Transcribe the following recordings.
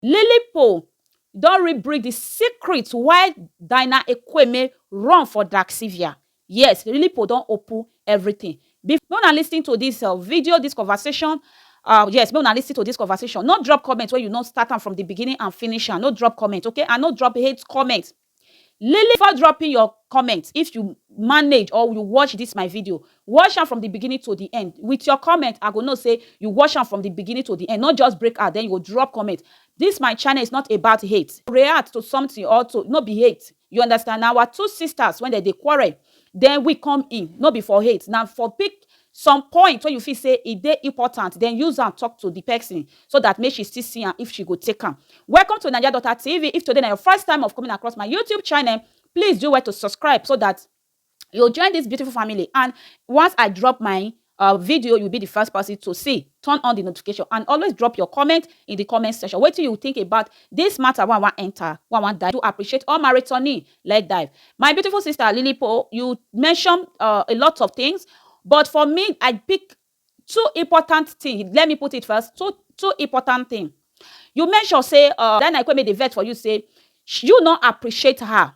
Lily Poll don rebrick di secret why Dinah Ekweme run for Daxivia. Yes, Lily Poll don open everything. Before make una listen to dis video, dis conversation, ah yes, make una listen to dis conversation. No drop comment wey you no start am from di beginning and finish am. No drop comment, okay? And no drop hate comment. Lily before dropping your comment if you manage or you watch this my video watch am from the beginning to the end with your comment i go know say you watch am from the beginning to the end not just break out then you go drop comment this my channel is not about hate react to something or to no be hate you understand na our two sisters when they dey quarrel then we come in, no be for hate, na for pick some point wey you feel say e dey important, then use am talk to the person so that make she still see am if she go take am. Welcome to Naija Daughter TV, if today na your first time of coming across my YouTube channel, please do well to subscribe so that you join this beautiful family and once I drop my Our video you be the first person to see, turn on the notification and always drop your comment in the comment section wetin you think about this matter wey I wan enter, wey I wan dive. Do appreciate all my returning leg dive. My beautiful sister Lily Po, you mention uh, a lot of things, but for me I pick two important things. Let me put it first, two two important things. You mention say uh, Diana Ikweme dey vex for you say you no appreciate her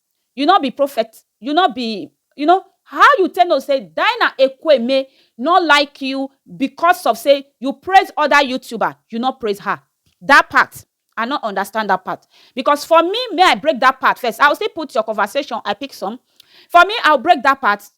You no be prophet, you no be you know how you take know say Dinah Ekwueme no like you because of say you praise other youtuber you no praise her that part I no understand that part because for me may I break that part first I will still put your conversation I pick some for me I will break that part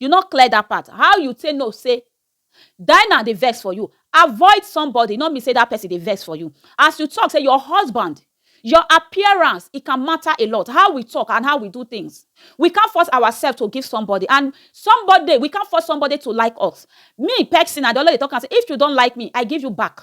You no clear that part, how you take know say Dinah dey vex for you? Avoid somebody no mean say that person dey vex for you. As you talk say your husband, your appearance e can matter a lot, how we talk and how we do things. We can't force ourselves to give somebody and somebody we can't force somebody to like us. Me pesin I dey always dey talk am say if you don't like me, I give you back.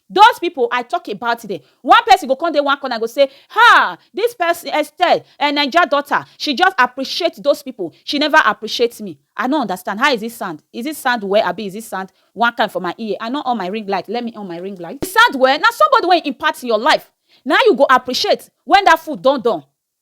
Those people I talk about them. One person go come dey one corner go say, ha, this person Estelle, a eh, Naija daughter, she just appreciate those people. She never appreciate me. I no understand. How is it sound? Is it sound well? Abi is it sound one kind for my ear? I no on my ring light. Let me on my ring light. It sound well. Now somebody wey impact your life. Now you go appreciate when that food don done.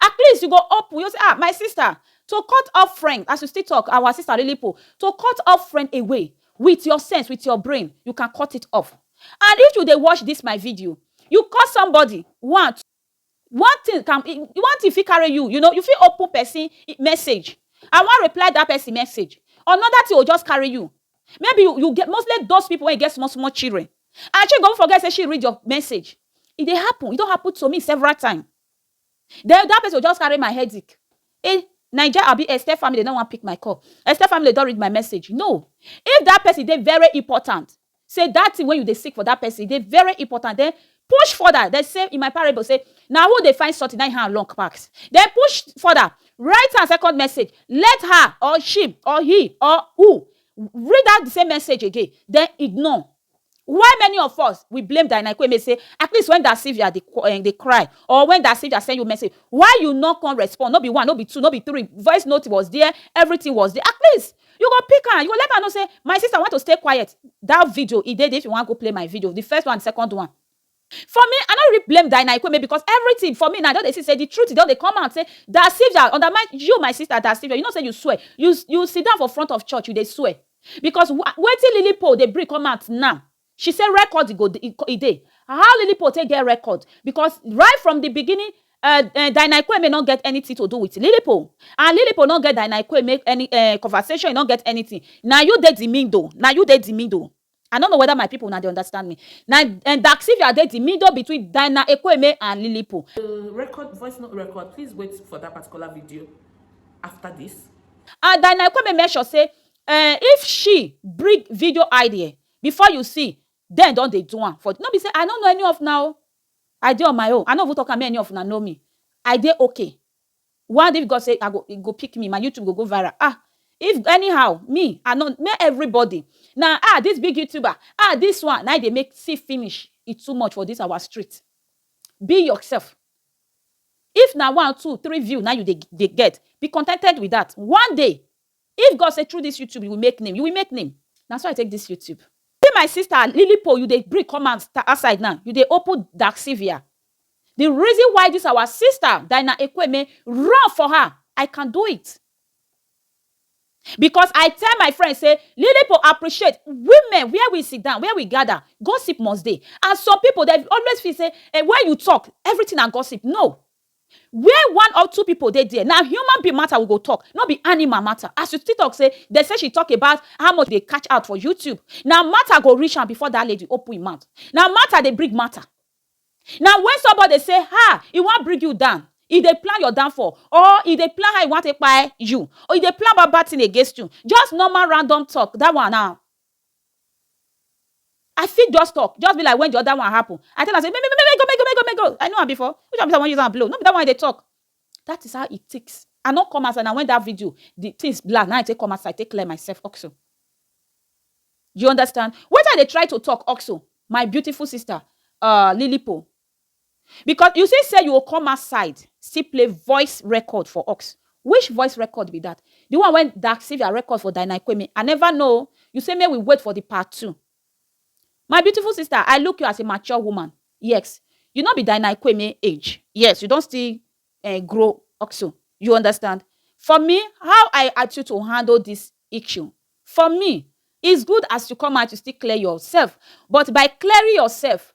At least you go open, you go say ah my sister to cut off friend as you still talk our sister Lilipo to cut off friend away with your sense with your brain you can cut it off and if you dey watch this my video you call somebody one one thing can one thing fit carry you you know you fit open person message and wan reply that person message another thing go just carry you maybe you you get mostly those people wey get small small children and she go forget say she read your message e dey happen e don happen to me several time. Then that person go just carry my headache eh Naija abi Esther family no wan pick my call Esther family don read my message no if that person dey very important say that thing wey you dey seek for that person e dey very important then push further dem say in my parable say na who dey find something na him hand long pass then push further write am second message let her or she or he or u read out the same message again then ignore Why many of us we blame Diana Ekweme say at least when Da Silvia dey um dey cry or when Da Silvia send you message why you no come respond no be one no be two no be three voice note was there everything was there at least you go pick am you go let am know say my sister want to stay quiet that video e dey there if you wan go play my video the first one and the second one For me, I no really blame Daina Ekweme because everything for me now I don dey see say the truth don dey come out say Dasivia undermine you my sister Dasivia you know say you swear you you sit down for front of church you dey swear because wetin Lily Paul dey bring come out now she say record e go e dey how Lily Paul take get record because right from the beginning um um Daina Ekweme no get anything to do with Lily Paul and Lily Paul no get Daina Ekweme any um conversation e no get anything na you dey the middle na you dey the middle I no know whether my people una dey understand me. Na um Daxivia dey di middle between Diana Ekwueme and Lily Pool. The record voice note record please wait for that particular video after this. And Diana Ekwueme make sure say um if she bring video idea before you see dem don dey do am for no be say I no know any of una o I dey on my own I no even talk am make any of una know me I dey okay. One if God say I go e go pick me my YouTube go go viral ah if anyhow me I no make everybody na ah this big YouTuber ah this one na e dey make see finish e too much for this our street be yourself if na one two three view na you dey dey get be contented with that one day If God say through this YouTube you will make name, you will make name. Na so I take this YouTube. See my sister Lilipo, you dey bring come out outside now, you dey open Dark Sylvia. The reason why this our sister Dinah Ekweme run for her, I can do it. Because I tell my friend say Lilipo appreciate women where we sit down, where we gather, gossip must dey. And some people they always feel say eh, when you talk, everything na gossip. No, Where one or two people dey there, na human being matter we go talk, no be animal matter. As you still talk say dem say she talk about how much dey catch out for YouTube, na matter go reach am before that lady open im mouth. Na matter dey bring matter. Na when somebody dey say ha! e wan bring you down, e dey plan your downfall or e dey plan how e wan take kpai you or e dey plan bad bad thing against you, just normal random talk, that one na I fit just talk, just be like when the other one happen. I tell am say, make, make, make, go, make, go, make, go, make, go. I know am before. Which one be say I wan use am blow? No be that one I dey talk. That is how it takes. I no come outside. Na when that video, the things black, na I take come outside, take clear myself also. You understand? Wetin I dey try to talk also, my beautiful sister, uh, Lilipo, Because u say say u go come outside still play voice record for ux which voice record be that the one wey Daxivia record for Dynaiquemi I never know oo u say make we wait for the part two my beautiful sister I look u as a mature woman yes u no be Dynaiquemi age yes u don still um grow also u understand for me how I at u to handle this issue for me is good as u come out u still clear your self but by clearing your self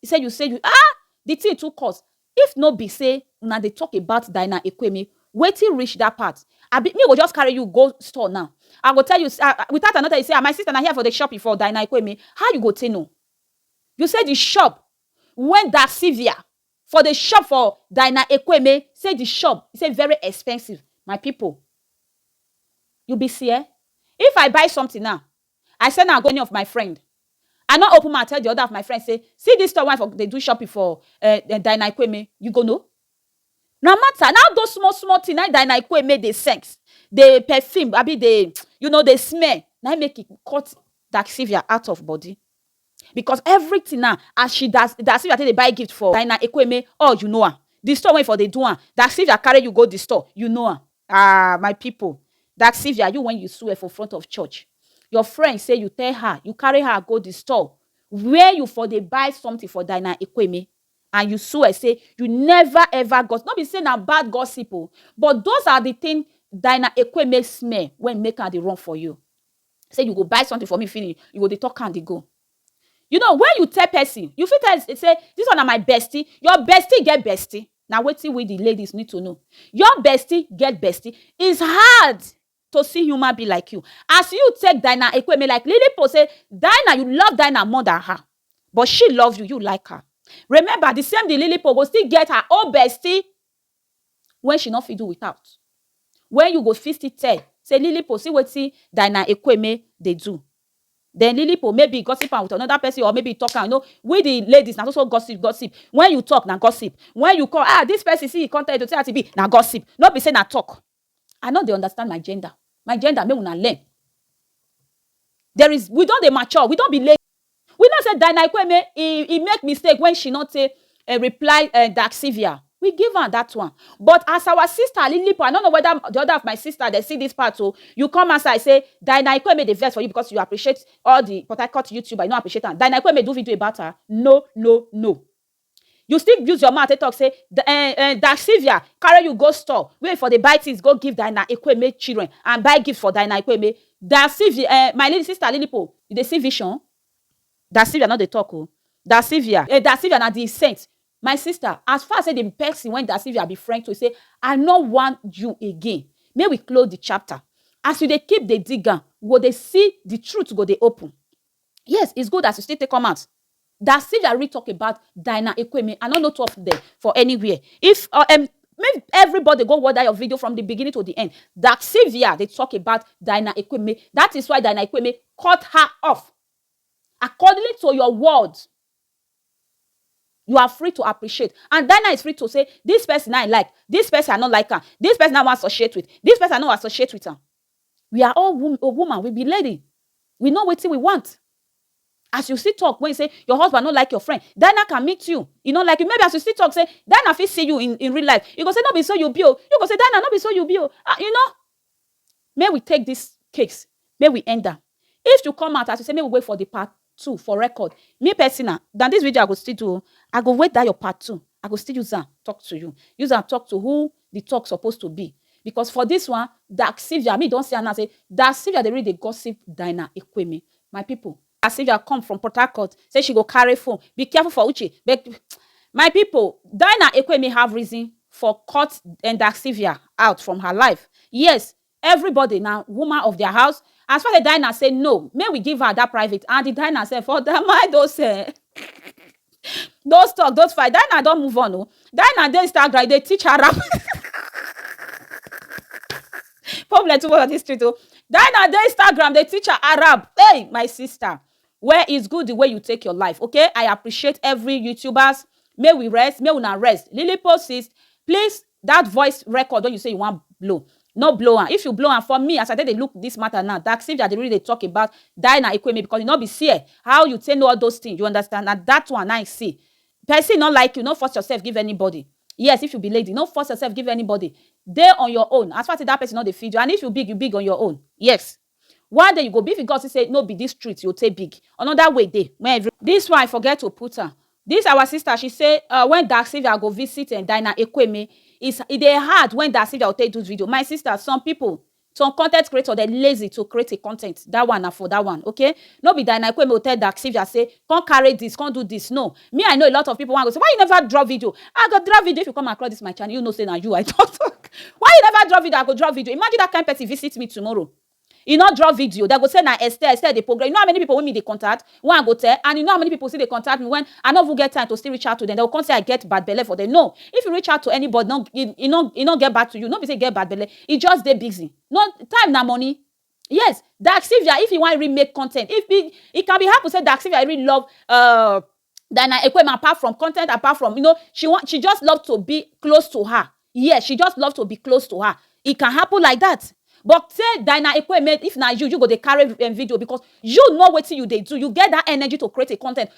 He say you say you ah the thing too cost if no be say una dey talk about Diana Ekweme wetin reach that part abi me go just carry you go store now I go tell you say ah without I no tell you say ah my sister na here for the shop for Diana Ekweme how you go take know you say the shop when Da Silvia for the shop for Diana Ekweme say the shop he say very expensive my people you be see eh if I buy something now I say na agony of my friend. I no open mouth tell the other of my friends say see this store wey I for dey do shopping for eh Diana Ekwueme, you go know? Na matter, na all those small small thing na im Diana Ekwueme dey scent, dey perfume abi dey you know dey smell na im make e cut Daxivia out of body because everything now as she da Daxivia take dey buy gift for Diana Ekwueme all you know am, the store wey e for dey do am Daxivia carry you go the store you know am. Ahh my pipo dat Sylvia you wen you swear for front of church your friend say you tell her you carry her go the store where you for dey buy something for Dinah Ekweme and you swear say you never ever gossip no be say na bad gossip o but those are the thing Dinah Ekweme smell wen make am dey run for you say you go buy something for me finish you go dey talk am dey go. You know wen you tell pesin, you fit tell sey dis one na my bestie, your bestie get bestie? Na wetin we the ladies need to know. Your bestie get bestie? It's hard to see human being like you. As you take Dinah Ekweme like Liliput sey Dinah, you love Dinah more than her but she love you, you like her. Remember the same the Liliput go still get her own bestie wey she no fit do without, wey you go fit still tell sey Lilipo see wetin Dinah Ekweme dey do, den Lilipo maybe e gossip am with anoda pesin or maybe e talk am, you know we di ladies na so so gossip gossip, wen you talk na gossip, wen you kon ah dis pesin see e kon tell you to see as e be na gossip, no be sey na talk I no dey understand my gender my gender make una learn there is we don dey mature we don be lady we know say Dinah Ikweme e e make mistake when she no take um reply um Dark Sylvia we give am that one but as our sister Alilipo I no know whether the other of my sister dem see this part o you come outside say Dinah Ikweme dey vex for you because you appreciate all the Port Harcourt youtuber you no appreciate am Dinah Ikweme do video about her no no no. You still use your mouth take talk say um Daxivia carry you go store wey you for dey buy things go give Diana Ekwueme children and buy gift for Diana Ekwueme. Daxivia um my lily sister Lilipo you dey see vision? Daxivia no dey talk o. Daxivia um Daxivia na the saint. My sister as far say the person wey Daxivia be friend to say I no want you again make we close the chapter. As you dey keep dey dig am, you go dey see the truth go dey open. Yes is good as you still take come out that Sylvia really talk about Dinah Ekweme I no know two of them for anywhere if um make everybody go watch that your video from the beginning to the end that Sylvia dey talk about Dinah Ekweme that is why Dinah Ekweme cut her off according to your words you are free to appreciate. And Dina is free to say, this person I like, this person I don't like her, this person I want associate with, this person I don't associate with her. We are all wom oh woman, we be lady, we know wetin we want. As you still talk when you say your husband no like your friend, Dinah can meet you, e no like you, maybe as you still talk say Dinah fit see you in in real life, e go say no be so you be o, you go say Dinah no be so you be o, ah you know. Make we take this case, make we end am. If you come out as you say make we wait for the part two for record me personal na this video I go still do o I go wait that your part two I go still use am talk to you use am talk to who the talk suppose to be because for this one dark Sylvia me don see am now say dark Sylvia dey really dey gossip Dina Ekweme my people dark Sylvia come from Port Harcourt say she go carry phone be careful for Uche my people Dina Ekweme have reason for cut dark Sylvia out from her life yes Everybody na woman of their house as far the diners say no make we give her that private and the diners sef for their mind those eh those talk those fight diner don move on o diner dey Instagram e dey teach her rap problem too much on this street o diner dey Instagram dey teach her Arab hey my sister well it's good the way you take your life okay I appreciate every youtubers make we rest make una rest lily post is please That voice record wey you say you wan blow, no blow am. If you blow am, for me as I take dey look this matter now, Daxivia dey really dey talk about Diana Ekweme because e no be see eh, how you take know all those things, you understand, na that one na im see. Person no like you, no force yourself give anybody. Yes, if you be lady, no force yourself give anybody. Dey on your own, as far as say that person no dey feed you and if you big, you big on your own. Yes. One day you go big because see say no be this street yo take big another way dey when every. This one I forget to put am this our sister she say uh when Daxivia go visit eh Dinah Ekweme is e dey hard when Daxivia go take do video my sister some people some content creator dem lazy to create a content that one na for that one okay no be Dinah Ekweme go tell Daxivia say come carry this come do this no me i know a lot of people wan go say why you never drop video i go drop video if you come across this my channel you know say na you i talk talk why you never drop video i go drop video imagine that kind person visit me tomorrow e no drop video they go say na esther esther dey progress you know how many people wey me dey contact wey i go tell and you know how many people still dey contact me when i no even get time to still reach out to them they go come say i get bad belle for them no if you reach out to anybody no e no e no get back to you no be say e get bad belle e just dey busy no time na money Yes, Dark Sylvia, if you want really make content, if it, it can be happen say Dark Sylvia really love uh Diana Ekwema apart from content, apart from you know, she want she just love to be close to her. Yeah, she just love to be close to her. It can happen like that. But say Diana Ekweme, if na you, you go dey carry um, video because you know wetin you dey do. You get that energy to create a content.